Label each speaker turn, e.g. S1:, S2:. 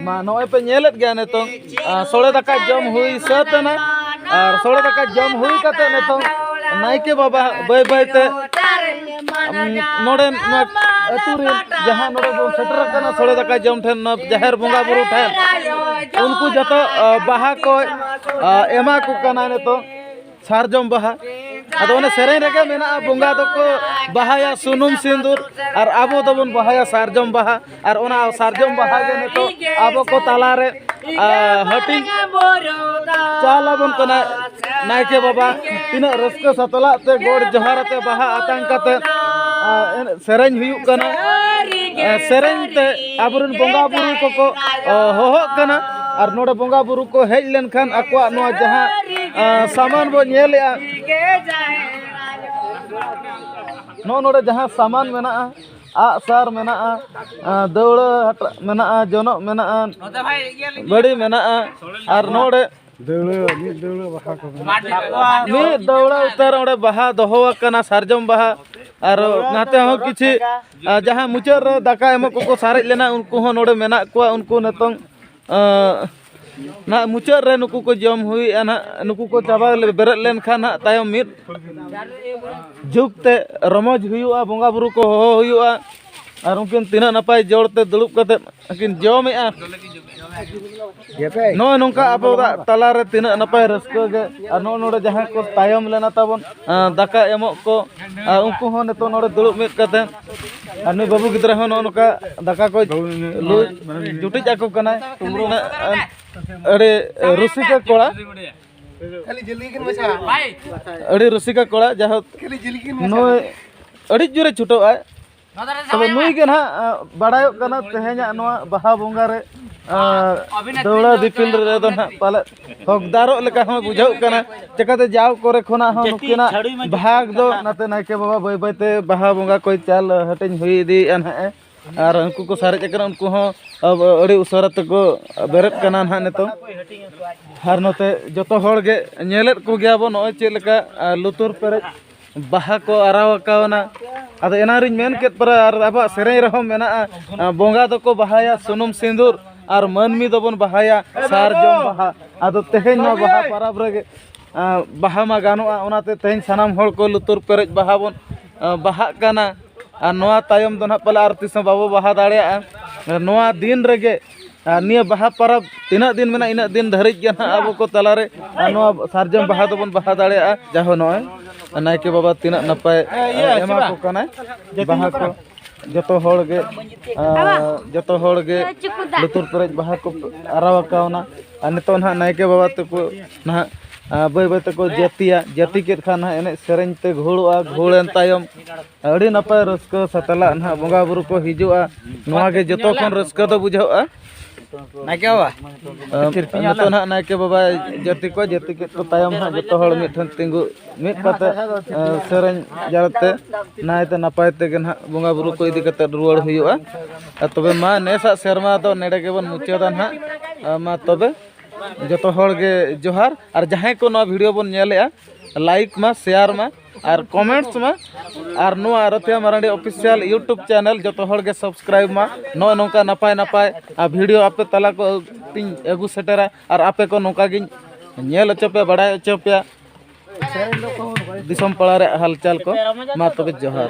S1: ᱢᱟ ᱱᱚᱜᱼᱚᱭ ᱯᱮ ᱧᱮᱞᱮᱫ ᱜᱮᱭᱟ ᱱᱤᱛᱚᱝ ᱥᱚᱲᱮ ᱫᱟᱠᱟ ᱡᱚᱢ ᱦᱩᱭ ᱥᱟᱹᱛ ᱮᱱᱟ ᱟᱨ ᱥᱚᱲᱮ ᱫᱟᱠᱟ ᱡᱚᱢ ᱦᱩᱭ ᱠᱟᱛᱮ ᱱᱤᱛᱚᱝ ᱱᱟᱭᱠᱮ ᱵᱟᱵᱟ ᱵᱟᱹᱭ ᱵᱟᱹᱭ ᱛᱮ ᱱᱚᱰᱮ ᱟᱹᱛᱩ ᱨᱮ ᱡᱟᱦᱟᱸ ᱱᱚᱰᱮ ᱵᱚᱱ ᱥᱮᱴᱮᱨ ᱟᱠᱟᱱᱟ ᱥᱚᱲᱮ ᱫᱟᱠᱟ ᱡᱚᱢ ᱴᱷᱮᱱ ᱡᱟᱦᱮᱨ ᱵᱚᱸᱜᱟ ᱵᱩᱨᱩ ᱴᱷᱮᱱ ᱩᱱᱠᱩ ᱡᱚᱛᱚ ᱵᱟᱦᱟ ᱠᱚ ᱮᱢᱟ ᱠᱚ ᱠᱟᱱᱟ ᱱᱤᱛᱚᱜ ᱥᱟᱨᱡᱚᱢ ᱵᱟᱦᱟ ᱟᱫᱚ ᱚᱱᱟ ᱥᱮᱨᱮᱧ ᱨᱮᱜᱮ ᱢᱮᱱᱟᱜᱼᱟ ᱵᱚᱸᱜᱟ ᱫᱚᱠᱚ ᱵᱟᱦᱟᱭᱟ ᱥᱩᱱᱩᱢ ᱥᱤᱸᱫᱩᱨ ᱟᱨ ᱟᱵᱚ ᱫᱚᱵᱚᱱ ᱵᱟᱦᱟᱭᱟ ᱥᱟᱨᱡᱚᱢ ᱵᱟᱦᱟ ᱟᱨ ᱚᱱᱟ ᱥᱟᱨᱡᱚᱢ ᱵᱟᱦᱟ ᱜᱮ ᱱᱤᱛᱚᱜ ᱟᱵᱚ ᱠᱚ ᱛᱟᱞᱟᱨᱮ ᱦᱟᱹᱴᱤᱧ ᱪᱟᱞ ᱟᱵᱚᱱ ᱠᱟᱱᱟ ᱱᱟᱭᱠᱮ ᱵᱟᱵᱟ ᱛᱤᱱᱟᱹᱜ ᱨᱟᱹᱥᱠᱟᱹ ᱥᱟᱛᱞᱟᱜ ᱛᱮ ᱜᱚᱰ ᱡᱚᱦᱟᱨ ᱟᱛᱮ ᱵᱟᱦᱟ ᱟᱛᱟᱝ ᱠᱟᱛᱮ ᱥᱮᱨᱮᱧ ᱦᱩᱭᱩᱜ ᱠᱟᱱᱟ ᱥᱮᱨᱮᱧ ᱛᱮ ᱟᱵᱚᱨᱮᱱ ᱵᱚᱸᱜᱟ ᱵᱩᱨᱩ ᱠᱚᱠᱚ ᱦᱚᱦᱚᱜ ᱠᱟᱱᱟ ᱟᱨ ᱱᱚᱰᱮ ᱵᱚᱸᱜᱟ ᱵᱩᱨᱩ ᱠᱚ ᱦᱮᱡ ᱞᱮᱱᱠᱷᱟᱱ ᱟᱠᱚᱣᱟᱜ ᱱᱚᱣᱟ ᱡᱟᱦᱟᱸ ᱥᱟᱢᱟᱱ ᱵᱚ ᱧᱮᱞᱮᱜᱼᱟ ᱱᱚᱜᱼᱚ ᱱᱚᱰᱮ ᱡᱟᱦᱟᱸ ᱥᱟᱢᱟᱱ ᱢᱮᱱᱟᱜᱼᱟ ᱟᱜ ᱥᱟᱨ ᱢᱮᱱᱟᱜᱼᱟ ᱫᱟᱹᱣᱲᱟᱹ ᱢᱮᱱᱟᱜᱼᱟ ᱡᱚᱱᱚᱜ ᱢᱮᱱᱟᱜᱼᱟ ᱵᱟᱹᱲᱤ ᱢᱮᱱᱟᱜᱼᱟ ᱟᱨ ᱱᱚᱰᱮ ᱢᱤᱫ ᱫᱟᱹᱣᱲᱟᱹ ᱩᱛᱟᱹᱨ ᱚᱸᱰᱮ ᱵᱟᱦᱟ ᱫᱚᱦᱚ ᱟᱠᱟᱱᱟ ᱥᱟᱨᱡᱚᱢ ᱵᱟᱦᱟ ᱟᱨ ᱱᱟᱛᱮ ᱦᱚᱸ ᱠᱤᱪᱷᱩ ᱡᱟᱦᱟᱸ ᱢᱩᱪᱟᱹᱫ ᱨᱮ ᱫᱟᱠᱟ ᱮᱢᱚᱜ ᱠᱚᱠᱚ ᱥᱟᱨᱮᱡ ᱞᱮᱱᱟ ᱩᱱᱠᱩ ᱦᱚᱸ ᱱᱚᱰᱮ ᱢᱮᱱᱟᱜ ᱠᱚᱣᱟ ᱩᱱᱠᱩ ᱱᱤᱛᱚᱝ ᱱᱟᱦᱟᱜ ᱢᱩᱪᱟᱹᱫ ᱨᱮ ᱱᱩᱠᱩ ᱠᱚ ᱡᱚᱢ ᱦᱩᱭᱮᱜᱼᱟ ᱱᱟᱦᱟᱜ ᱱᱩᱠᱩ ᱠᱚ ᱪᱟᱵᱟ ᱵᱮᱨᱮᱫ ᱞᱮᱱᱠᱷᱟᱱ ᱱᱟᱦᱟᱜ ᱛᱟᱭᱚᱢ ᱢᱤᱫ ᱡᱩᱜᱽ ᱛᱮ ᱨᱚᱢᱚᱡᱽ ᱦᱩᱭᱩᱜᱼᱟ ᱵᱚᱸᱜᱟᱼᱵᱩᱨᱩ ᱠᱚ ᱦᱚᱦᱚ ᱦᱩᱭᱩᱜᱼᱟ ᱟᱨ ᱩᱱᱠᱤᱱ ᱛᱤᱱᱟᱹᱜ ᱱᱟᱯᱟᱭ ᱡᱚᱲ ᱛᱮ ᱫᱩᱲᱩᱵ ᱠᱟᱛᱮ ᱟᱹᱠᱤᱱ ᱡᱚᱢᱮᱜᱼᱟ ᱱᱚᱜᱼᱚᱭ ᱱᱚᱝᱠᱟ ᱟᱵᱚᱣᱟᱜ ᱛᱟᱞᱟᱨᱮ ᱛᱤᱱᱟᱹᱜ ᱱᱟᱯᱟᱭ ᱨᱟᱹᱥᱠᱟᱹ ᱜᱮ ᱟᱨ ᱱᱚᱜᱼᱚ ᱱᱚᱰᱮ ᱡᱟᱦᱟᱸᱭ ᱠᱚ ᱛᱟᱭᱚᱢ ᱞᱮᱱᱟ ᱛᱟᱵᱚᱱ ᱫᱟᱠᱟ ᱮᱢᱚᱜ ᱠᱚ ᱟᱨ ᱩᱱᱠᱩ ᱦᱚᱸ ᱱᱤᱛᱚᱜ ᱱᱚᱰᱮ ᱫᱩᱲᱩᱵ ᱢᱤᱫ ᱠᱟᱛᱮ ᱟᱨ ᱱᱩᱭ ᱵᱟᱹᱵᱩ ᱜᱤᱫᱽᱨᱟᱹ ᱦᱚᱸ ᱱᱚᱜᱼᱚ ᱱᱚᱝᱠᱟ ᱫᱟᱠᱟ ᱠᱚ ᱞᱩ ᱡᱩᱴᱤᱡ ᱟᱠᱚ ᱠᱟᱱᱟᱭ ᱟᱹᱰᱤ ᱨᱩᱥᱤᱠᱟ ᱠᱚᱲᱟ ᱟᱹᱰᱤ ᱨᱩᱥᱤᱠᱟ ᱠᱚᱲᱟ ᱡᱟᱭᱦᱳᱠ ᱱᱩᱭ ᱟᱹᱰᱤ ᱡᱳᱨᱮ ᱪᱷᱩᱴᱟᱹᱜᱼᱟᱭ ᱛᱚᱵᱮ ᱱᱩᱭ ᱜᱮ ᱱᱟᱦᱟᱜ ᱵᱟᱲᱟᱭᱚᱜ ᱠᱟᱱᱟ ᱛᱮᱦᱮᱧᱟᱜ ᱱᱚᱣᱟ ᱵᱟᱦᱟ ᱵᱚᱸᱜᱟ ᱨᱮ ᱫᱟᱹᱣᱲᱟ ᱫᱤᱯᱤᱞ ᱨᱮᱫᱚ ᱱᱟᱦᱟᱜ ᱯᱟᱞᱮᱫ ᱦᱚᱠᱫᱟᱨᱚᱜ ᱞᱮᱠᱟ ᱦᱚᱸ ᱵᱩᱡᱷᱟᱹᱜ ᱠᱟᱱᱟ ᱪᱮᱠᱟᱛᱮ ᱡᱟᱣ ᱠᱚᱨᱮ ᱠᱷᱚᱱᱟᱜ ᱦᱚᱸ ᱱᱩᱠᱤᱱᱟᱜ ᱵᱷᱟᱜᱽ ᱫᱚ ᱱᱟᱛᱮ ᱱᱟᱭᱠᱮ ᱵᱟᱵᱟ ᱵᱟᱹᱭ ᱵᱟᱹᱭᱛᱮ ᱵᱟᱦᱟ ᱵᱚᱸᱜᱟ ᱠᱚᱭ ᱪᱟᱞ ᱦᱟᱹᱴᱤᱧ ᱦᱩᱭ ᱤᱫᱤᱭᱮᱫᱼᱟ ᱱᱟᱦᱟᱜ ᱟᱨ ᱩᱱᱠᱩ ᱠᱚ ᱥᱟᱨᱮᱡ ᱟᱠᱟᱱᱟ ᱩᱱᱠᱩ ᱦᱚᱸ ᱟᱹᱰᱤ ᱩᱥᱟᱹᱨᱟ ᱛᱮᱠᱚ ᱵᱮᱨᱮᱫ ᱠᱟᱱᱟ ᱱᱟᱦᱟᱜ ᱱᱤᱛᱚᱜ ᱟᱨ ᱱᱚᱛᱮ ᱡᱚᱛᱚ ᱦᱚᱲ ᱜᱮ ᱧᱮᱞᱮᱫ ᱠᱚᱜᱮᱭᱟ ᱵᱚᱱ ᱱᱚᱜᱼᱚᱭ ᱪᱮᱫ ᱞᱮᱠᱟ ᱞᱩᱛᱩᱨ ᱯᱮᱨᱮᱡ ᱵᱟᱦᱟ ᱠᱚ ᱟᱨᱟᱣ ᱟᱠᱟᱣᱱᱟ ᱟᱫᱚ ᱮᱱᱟᱝ ᱨᱤᱧ ᱢᱮᱱ ᱠᱮᱫ ᱯᱟᱨᱟ ᱟᱨ ᱟᱵᱚᱣᱟᱜ ᱥᱮᱨᱮᱧ ᱨᱮᱦᱚᱸ ᱢᱮᱱᱟᱜᱼᱟ ᱵᱚᱸᱜᱟ ᱫᱚᱠᱚ ᱵᱟᱦᱟᱭᱟ ᱥᱩᱱᱩᱢ ᱥᱤᱸᱫᱩᱨ ᱟᱨ ᱢᱟᱹᱱᱢᱤ ᱫᱚᱵᱚᱱ ᱵᱟᱦᱟᱭᱟ ᱥᱟᱨᱡᱚᱢ ᱵᱟᱦᱟ ᱟᱫᱚ ᱛᱮᱦᱮᱧ ᱱᱚᱣᱟ ᱵᱟᱦᱟ ᱯᱟᱨᱟᱵᱽ ᱨᱮᱜᱮ ᱵᱟᱦᱟ ᱢᱟ ᱜᱟᱱᱚᱜᱼᱟ ᱚᱱᱟᱛᱮ ᱛᱮᱦᱮᱧ ᱥᱟᱱᱟᱢ ᱦᱚᱲ ᱠᱚ ᱞᱩᱛᱩᱨ ᱯᱮᱨᱮᱡ ᱵᱟᱦᱟ ᱵᱚᱱ ᱵᱟᱦᱟᱜ ᱠᱟᱱᱟ ᱟᱨ ᱱᱚᱣᱟ ᱛᱟᱭᱚᱢ ᱫᱚ ᱱᱟᱦᱟᱜ ᱯᱟᱞᱮ ᱟᱨ ᱛᱤᱥ ᱦᱚᱸ ᱵᱟᱵᱚ ᱵᱟᱦᱟ ᱫᱟᱲᱮᱭᱟᱜᱼᱟ ᱱᱚᱣᱟ ᱫᱤᱱ ᱨᱮᱜᱮ ᱟᱨ ᱱᱤᱭᱟᱹ ᱵᱟᱦᱟ ᱯᱚᱨᱚᱵᱽ ᱛᱤᱱᱟᱹᱜ ᱫᱤᱱ ᱢᱮᱱᱟᱜᱼᱟ ᱤᱱᱟᱹᱜ ᱫᱤᱱ ᱫᱷᱟᱹᱨᱤᱡ ᱜᱮ ᱱᱟᱦᱟᱜ ᱟᱵᱚ ᱠᱚ ᱛᱟᱞᱟ ᱨᱮ ᱟᱨ ᱱᱚᱣᱟ ᱥᱟᱨᱡᱚᱢ ᱵᱟᱦᱟ ᱫᱚᱵᱚᱱ ᱵᱟᱦᱟ ᱫᱟᱲᱮᱭᱟᱜᱼᱟ ᱡᱟᱭᱦᱳᱠ ᱱᱚᱜᱼᱚᱭ ᱱᱟᱭᱠᱮ ᱵᱟᱵᱟ ᱛᱤᱱᱟᱹᱜ ᱱᱟᱯᱟᱭ ᱮᱢᱟ ᱠᱚ ᱠᱟᱱᱟᱭ ᱵᱟᱦᱟ ᱠᱚ ᱡᱚᱛᱚ ᱦᱚᱲ ᱜᱮ ᱡᱚᱛᱚ ᱦᱚᱲ ᱜᱮ ᱞᱩᱛᱩᱨ ᱯᱮᱨᱮᱡ ᱵᱟᱦᱟ ᱠᱚ ᱟᱨᱟᱣ ᱠᱟᱣᱱᱟ ᱟᱨ ᱱᱤᱛᱚᱜ ᱱᱟᱦᱟᱜ ᱱᱟᱭᱠᱮ ᱵᱟᱵᱟ ᱛᱟᱠᱚ ᱱᱟᱦᱟᱜ ᱵᱟᱹᱭ ᱵᱟᱹᱭ ᱛᱮᱠᱚ ᱡᱟᱹᱛᱤᱭᱟ ᱡᱟᱹᱛᱤ ᱠᱮᱫ ᱠᱷᱟᱱ ᱱᱟᱦᱟᱜ ᱮᱱᱮᱡ ᱥᱮᱨᱮᱧ ᱛᱮ ᱜᱷᱳᱲᱚᱜᱼᱟ ᱜᱷᱳᱲᱮᱱ ᱛᱟᱭᱚᱢ ᱟᱹᱰᱤ ᱱᱟᱯᱟᱭ ᱨᱟᱹᱥᱠᱟᱹ ᱥᱟᱛᱞᱟᱜ ᱱᱟᱦᱟᱜ ᱵᱚᱸᱜᱟ ᱵᱩᱨᱩ ᱠᱚ ᱦᱤᱡᱩᱜᱼᱟ ᱱᱚᱣᱟ ᱜᱮ ᱡᱚᱛᱚ ᱠᱷᱚᱱ ᱨᱟᱹᱥᱠᱟᱹ ᱫᱚ ᱵᱩᱡᱷᱟᱹᱜᱼᱟ ᱱᱟᱭᱠᱮ ᱵᱟᱵᱟ ᱱᱤᱛᱚᱜ ᱱᱟᱦᱟᱜ ᱱᱟᱭᱠᱮ ᱵᱟᱵᱟ ᱡᱟᱹᱛᱤ ᱠᱚ ᱡᱟᱹᱛᱤ ᱠᱮᱫ ᱠᱚ ᱛᱟᱭᱚᱢ ᱱᱟᱦᱟᱜ ᱡᱚᱛᱚ ᱦᱚᱲ ᱢᱤᱫ ᱴᱷᱮᱱ ᱛᱤᱸᱜᱩ ᱢᱤᱫ ᱠᱟᱛᱮ ᱥᱮᱨᱮᱧ ᱡᱟᱣᱛᱮ ᱱᱟᱭᱛᱮ ᱱᱟᱯᱟᱭ ᱛᱮᱜᱮ ᱱᱟᱦᱟᱜ ᱵᱚᱸᱜᱟ ᱵᱩᱨᱩ ᱠᱚ ᱤᱫᱤ ᱠᱟᱛᱮ ᱨᱩᱣᱟᱹᱲ ᱦᱩᱭᱩᱜᱼᱟ ᱟᱨ ᱛᱚᱵᱮ ᱢᱟ ᱱᱮᱥᱟᱜ ᱥᱮᱨᱢᱟ ᱫᱚ ᱱᱮᱰᱮ ᱜᱮᱵᱚᱱ ᱢᱩᱪᱟᱹᱫᱟ ᱱᱟᱦᱟᱜ ᱢᱟ ᱛᱚᱵᱮ ᱡᱚᱛᱚ ᱦᱚᱲ ᱜᱮ ᱡᱚᱦᱟᱨ ᱟᱨ ᱡᱟᱦᱟᱸᱭ ᱠᱚ ᱱᱚᱣᱟ ᱵᱷᱤᱰᱤᱭᱳ ᱵᱚᱱ ᱧᱮᱞᱮᱜᱼᱟ ᱞᱟᱭᱤᱠ ᱢᱟ ᱥᱮᱭᱟᱨ ᱢᱟ ᱟᱨ ᱠᱚᱢᱮᱱᱴᱥ ᱢᱟ ᱟᱨ ᱱᱚᱣᱟ ᱨᱚᱛᱷᱤᱭᱟ ᱢᱟᱨᱟᱱᱰᱤ ᱚᱯᱷᱤᱥᱤᱭᱟᱞ ᱤᱭᱩᱴᱩᱵᱽ ᱪᱮᱱᱮᱞ ᱡᱚᱛᱚ ᱦᱚᱲ ᱜᱮ ᱥᱟᱵᱥᱠᱨᱟᱭᱤᱵᱽ ᱢᱟ ᱱᱚᱜᱼᱚᱭ ᱱᱚᱝᱠᱟ ᱱᱟᱯᱟᱭ ᱱᱟᱯᱟᱭ ᱟᱨ ᱵᱷᱤᱰᱤᱭᱳ ᱟᱯᱮ ᱛᱟᱞᱟ ᱠᱚ ᱛᱤᱧ ᱟᱹᱜᱩ ᱥᱮᱴᱮᱨᱟ ᱟᱨ ᱟᱯᱮ ᱠᱚ ᱱᱚᱝᱠᱟ ᱜᱤᱧ ᱧᱮᱞ ᱦᱚᱪᱚ ᱯᱮᱭᱟ ᱵᱟᱲᱟᱭ ᱦᱚᱪᱚ ᱯᱮᱭᱟ ᱫᱤᱥᱚᱢ ᱯᱟᱲᱟ ᱨᱮᱭᱟᱜ ᱦᱟᱞᱪᱟᱞ ᱠᱚ ᱢᱟ ᱛᱚᱵᱮ ᱡᱚᱦᱟᱨ